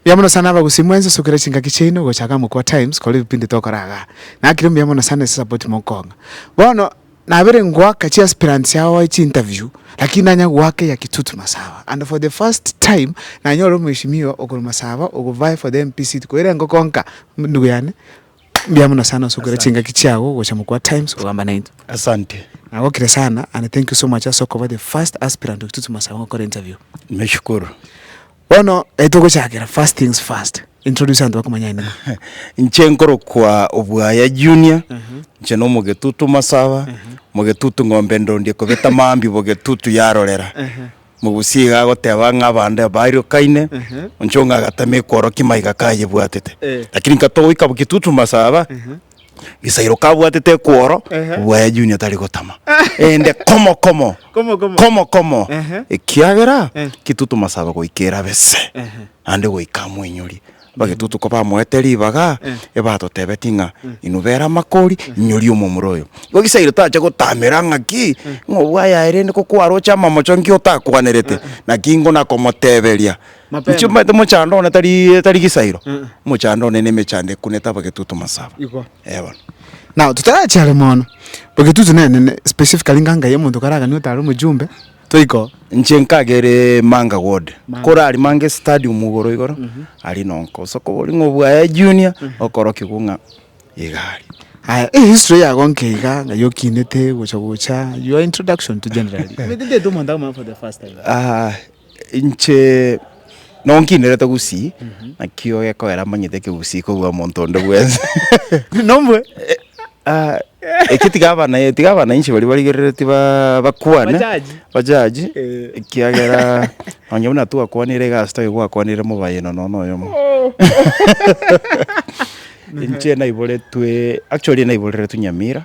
Mbuya mono sana abagusii mwensi osokire chingaki chiaino gocha gaa mokwa times kore ebipindi tokora gaa. Nakire mbuya mono sana ase esapoti mokong'a. Bono nabire ngoaka chi aspirants yagoe chi interview lakini nanya goaka eya kitutu masaba and for the first time nanyore omweshimiwa okorwa masaba ogovae for the MP seat koira engokonka ndugu yane. Mbuya mono sana osokera chingaki chiago gocha mokwa times kogamba naintwe. Asante. Nagokire sana and thank you so much ase okoba the first aspirant o Kitutu Masawe gokora interview. Nimeshukuru. Bono eh, togochakera first things first. Introduce abanto bakomanya aye nigo. Inche nkorokwa Obwaya Junior, inche na Omogetutu Masawa, Mogetutu Ng'ombe Ndondi ekobeta mambia bo Getutu yarorera. Mogusi iga agoteba ng'a abande abairokaine, inche onga agatema ekworokia maiga kayebwatete. Lakini nkatoa goika bo kitutu masaba, Gisairo kabwatete ekworo, obua ya Junior tari gotama. Ende komo komo, komo komo, ekiagera kitutu masaba goika erabe se, naende goika amoinyorie. Bagetutu kobamoete ribaga, ebatotebetie ng'a, Inwe bera amakori, inyoria omomura oyo. Igo Isiraeli tacha gotamera ng'aki, ng'a obwo ayaye rende ko kwaroche amamocho nki otakwanerete, naki ingo nakomoteberia. Mapema. Inche omanyete omochando one tari tari gisairo, omochando one nemechando ekunete abagetutu masaba. Igo. Eh bono. Now, totarachia are mono, bagetutu nene ne specifically ng'a nkai omonto kare aganio otare omojumbe. Toiko, inche nkagere Manga Ward, kore aria Manga Stadium igoro igoro, aria no nkosoka oboria ng'a obwaya Junior okorokigwa ng'a iga aria. Aya, ehistory yago nke iga, ng'ai okinete gocha gocha, your introduction to generally. Omanyete ntaete omonto akomanya for the first time. Inche. Nonkinerete gusii, naki ogekogera amanyete ekegusii kobua omonto onde bwensi. Nomwe. Ah, eki tiga abana- tiga abanainchi baria barigereretie ba- bakwane. Bajaji. Bajaji, Eh. ekiagera onye buna twakwanire egasi toigo gwakwanire mobayeino nonya oyomo. Inche naiboretwe, actually naiboreretwe Nyamira.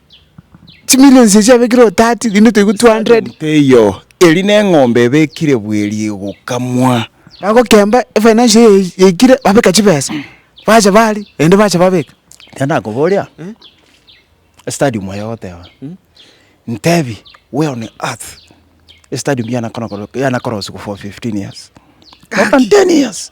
Chimilions echio abekire o tati, rinde toigwe two hundred. Stadium teiyo, eri neng'ombe ebekire bweri egokamwa. Bagokemba efinancial eye yaikire babeka chibesa, bacha baaria rende bacha babeka. Ekero nakoboria, estadium eye ogoteba, ntebi we on earth estadium yanakorokire yanakorosigwa for fifteen years, more than ten years.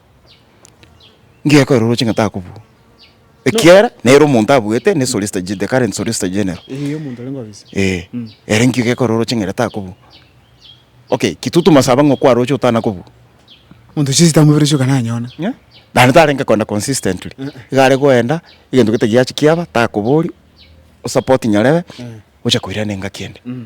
ngekorera oroche ng'a takobua. Ekiagera nere omonto abuete ne Solicita Ge- the current Solicita General. Eeh, omonto orenge ofisi. Eeh, Mm. ere nkio gekorera oroche ng'a ere takobua. Okay, Kitutu Masaba ng'a okwaroche otana kobua? Monto chiesi tamoberesie oka nanyone. Ng'a? Naende tarenge koenda consistently. Eh, eh. Iga are goenda, egento gete giachi kiaba, takoboria, osupporti nyarebe, oche koirana engaki ende. Mm.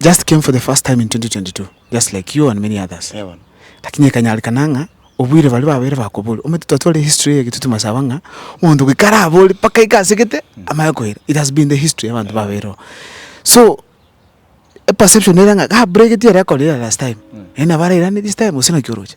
just came for the first time in 2022 just like you and many others Eeh bono. lakini ekanyarekana ng'a obuire baria babere bakobori omanyete twatware history eye getuti masaba ng'a omonto goika arabori mpaka eke asegete amanye koira it has been the history yabanto babere oo so eperception ere ng'a ga bregetio ere akorire last time naende nabo arairane this time gose naki oroche.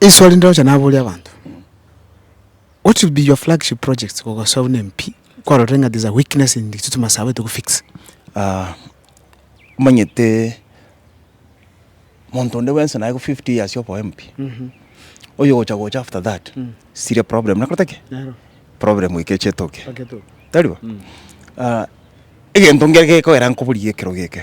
Eswali ndire gocha naboria abanto, what should be your flagship projects kogosoa buna MP kwarorire ng'a there's a weakness in the system ase abete kofix? Ah, omanyete monto onde bwensi naye fifty years obe omp, oyo ogocha gocha after that, still problem nakorete ki? Nero. Problem eke echetoke. Bagetoke. Tari bo? Ah, egento nkere gekogera nkoboria ekero geke.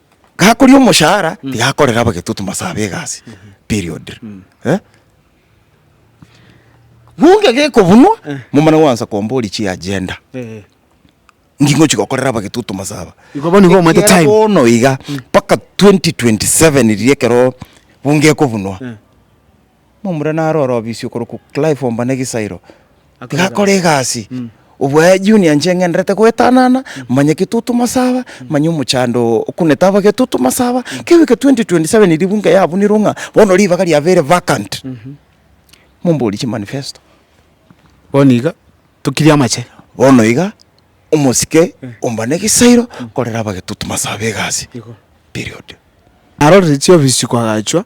gakoria omoshahara tigakorera abagetutu mase abe egasi period eh. Bunge gekobunwa momana gwansa kombori chi agenda Eh. ngi ngochi gokorera abagetutu mase aba Igo bono igo omanyete Ekiagera time. bono iga mpaka 2027 riria ekero bunge ekobunwa Momura narorobisio korokwa Clive Omba na egesairo, iga akore egasi, obwaye junior inche ng'enderete goetanana, manya getutu masaba, manya omochando oo okunete aba getutu masaba, kegwika 2027 ribu inga yabunirwe ng'a bono ribaga riabo ere vacant, momborie chimanifesto. Bono iga, tokirie amache. Bono iga, omosike Omba na egesairo, korera aba getutu masaba egasi, period. Narorire chiofisi koagachwa.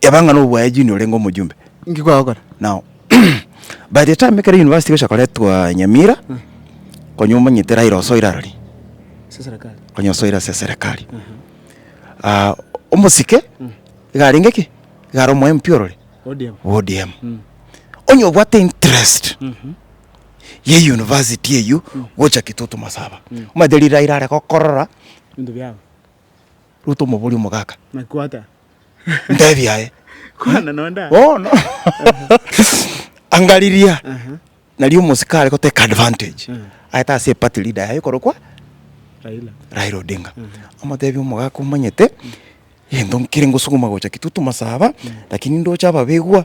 Eba ng'a nobwaye Junior orenge omojumbe. Inki kwagokora? Now by the time ekero university egocha koretwa Nyamira konya omanyete Raila osoire arari Ase serekari. konya osoire ase eserekari Ah, omosike iga arenge ki iga are omo MP orore ODM. ODM onye obwate interest ya euniversity eywo gocha kitutu masaba omanyete riria Raila are gokorora Ebinto biabo. Ruto omobori omogaka. Naki kwata. Ntebia aye. Kwana nonde aye. Bono anga riria nari omosika are goteka advantage aete ase party leader yaye okorokwa Raila. Raila Odinga amotebie omogaka omanyete egento nkere ngosuguma gocha Kitutu Masaba lakini ndoche ababegwa.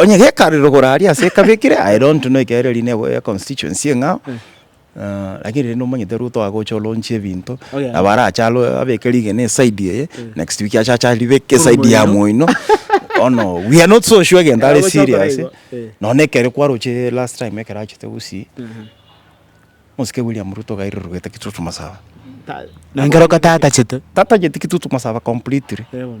onye gekare rogoro aria ase ekabekire I don't know ekero ere rinde eboyo ya constituency eng'ao lakini rende omanyete Ruto agocha olaunch ebinto Oh, yeah. nabo arache alo- abeke rigena eside eye next week acha ache aribeke eside ya Moino bono we are not so sure egento are Agocha okora serious igo, eh. nonye na ekero kwaroche last time ekero achete Gusii mosike William Ruto gairorogete Kitutu Masaba Nengera oka tatachete. tatacheti Kitutu Masaba completely. Eh, bono.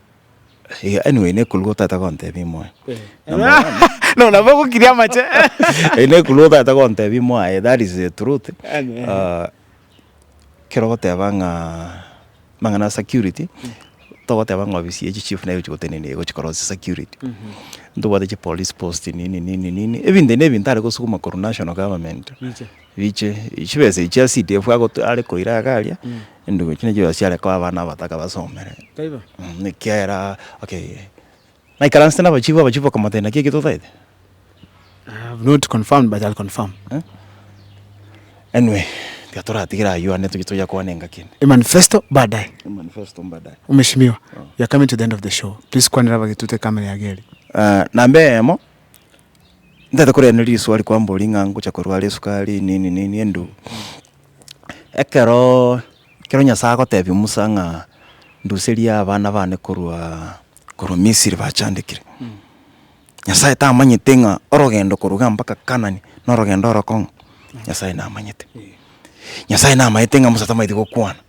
Iga anyway nekuru otagete gontebi moyo. No nabo ogokiria amache. Eh nekuru otagete gontebi mwaye that is the truth. Ah ekero ogoteba ng'a amang'ana ya security togoteba ng'a ofisi ya chichief nere egochi gotenena iga egochi korosia security. Ntobwate chipolice post nini nini nini ebinto na ebinto are kosukuma korwa national government. Riche, chibesa echi ase itefu ago to are koira iga aria, enduko echi nachio chiare koa abana abataka basomere. Taibo. Mh, ekiagera, okay, naikaransete na abachifu, abachifu bakamotebia naki eki totaete? I have not confirmed but I'll confirm. Eh? Anyway, tiga toratigere aywo ande tochie toya kwane engaki ende. Emanifesto baadaye. Emanifesto mbadaye. Omeshimiwa, we are coming to the end of the show. Please kwanera abagetute camera yago eria. Ah, namba eyemo. Ntaete korenda risoa ri kwambori ng'a ngocha korwara esukari nini nini endu ekero ekero Nyasaye agotebia Musa ng'a nduserie abana bane korwa korwa Misiri bachandekire, Nyasaye tamanyete ng'a orogendo koruga mpaka Kanani norogendo orokong'u? Nyasaye namanyete. Nyasaye namaete ng'a Musa tamanyeti gokwana.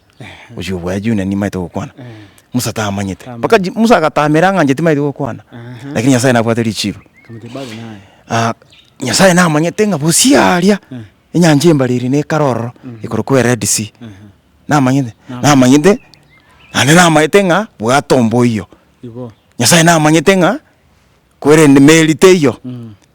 Ochia obua ya June nimaete gokwana. Musa tamanyete. Mpaka Musa agatamera ng'a inche timaeti gokwana. Lakini Nyasae nabwate richiru. Nyasae namanyete ng'a bosi aria enyancha embare eri nekare ororo ekorokwa ered sea. Namanyete? Namanyete naende namaete ng'a bwate omboyo. Nyasae namanyete ng'a korende emeri teiyo.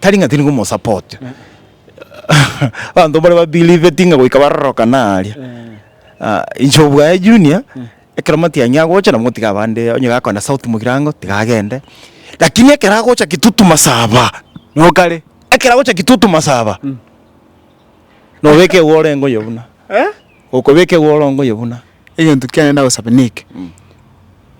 tari ng'a tiri komosupport, abanto mbare ba believe ng'a goika barorokana aria, inche obwaye junior, ekero matiang'i agocha nabo ngotiga abande, onye gakoenda south mogirango tiga agende, lakini ekero agocha kitutu masaba, nokare, ekero agocha kitutu masaba, nobeka eguo orenge oye buna, okobeka eguo orenge oye buna. egento kiane ndagosaba neke,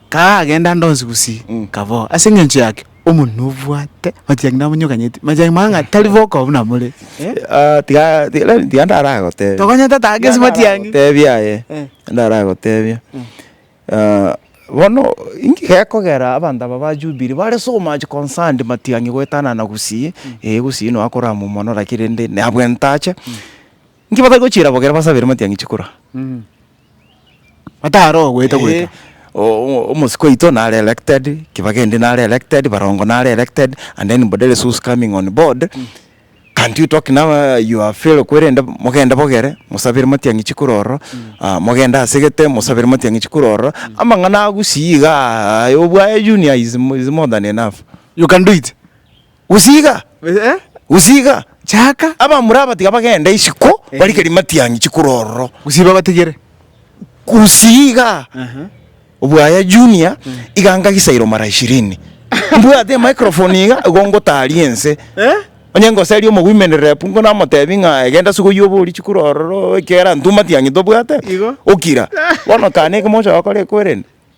kaa agenda ande onsi gusii Mm. kaboo. Ase eng'encho yake, omonwe nobwate, machiaki namonyokanyeti, machiaki mang'ana ng'a tari boka buna more. Eh? Ah, tiga- tiga- rari- tiga ndaragotebia. Tokonyete ata ake ase matiang'i. Gotebia aye, Eh. ndaragotebia. Ah, bono, inki gekogera abanto aba ba Jubilee bare so much concerned matiang'i goetanana gusii, eh, gusii noe akoramwa mono, lakini rende nabwo entache. Inki batari gochiera bogere basabere matiang'i chikura? Bataroa goeta goeta. O- omosike oito nare elected, kibagende nare elected, barongo nare elected, and then Mboderesu who's coming on board, can't you talk now your fellow kwerende mogende bogere mosabere matiang'i chikura ororo, mogende asegete mosabere matiang'i chikura ororo, amang'ana agusii igaa, aye obwaye junior is mo- is more than enough. You can do it. Gose iga, gose iga. Chaka. Abamura aba tiga bagende isiko, barike rimatiang'i chikure ororo. Gose babatigere. Gose iga. Obwaya Junior, iga ngagisairo mara ishirini. Mbwate emicrophone iga, igo ngotaria ense. Onye ngoseria omogwimereri rep inko namotebi ng'a genda ase oyio obori chikure ororo, ekiagera intwe matiang'i tobwate, okira. Bono kane ekemo ocha gokora ekwerende.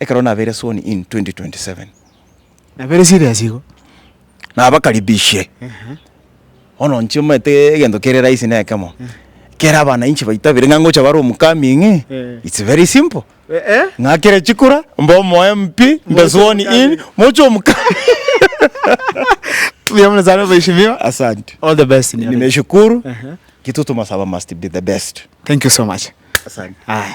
Ekero nabeire sworn in 2027. Nabeire serious igo. Nabakaribishie. Bono inche omanyete egento kere rahisi ne ekemo. Kere abanainchi baitabire ng'a ngocha bare omocoming, it's very simple. Ng'akere chikura, mbe omo MP, mbe sworn in, moche omocoming. Mbuya mono sana mweshimiwa. Asante. All the best. Nimeshukuru. Kitu tumasaba must be the best. Thank you so much. Asante. Aya.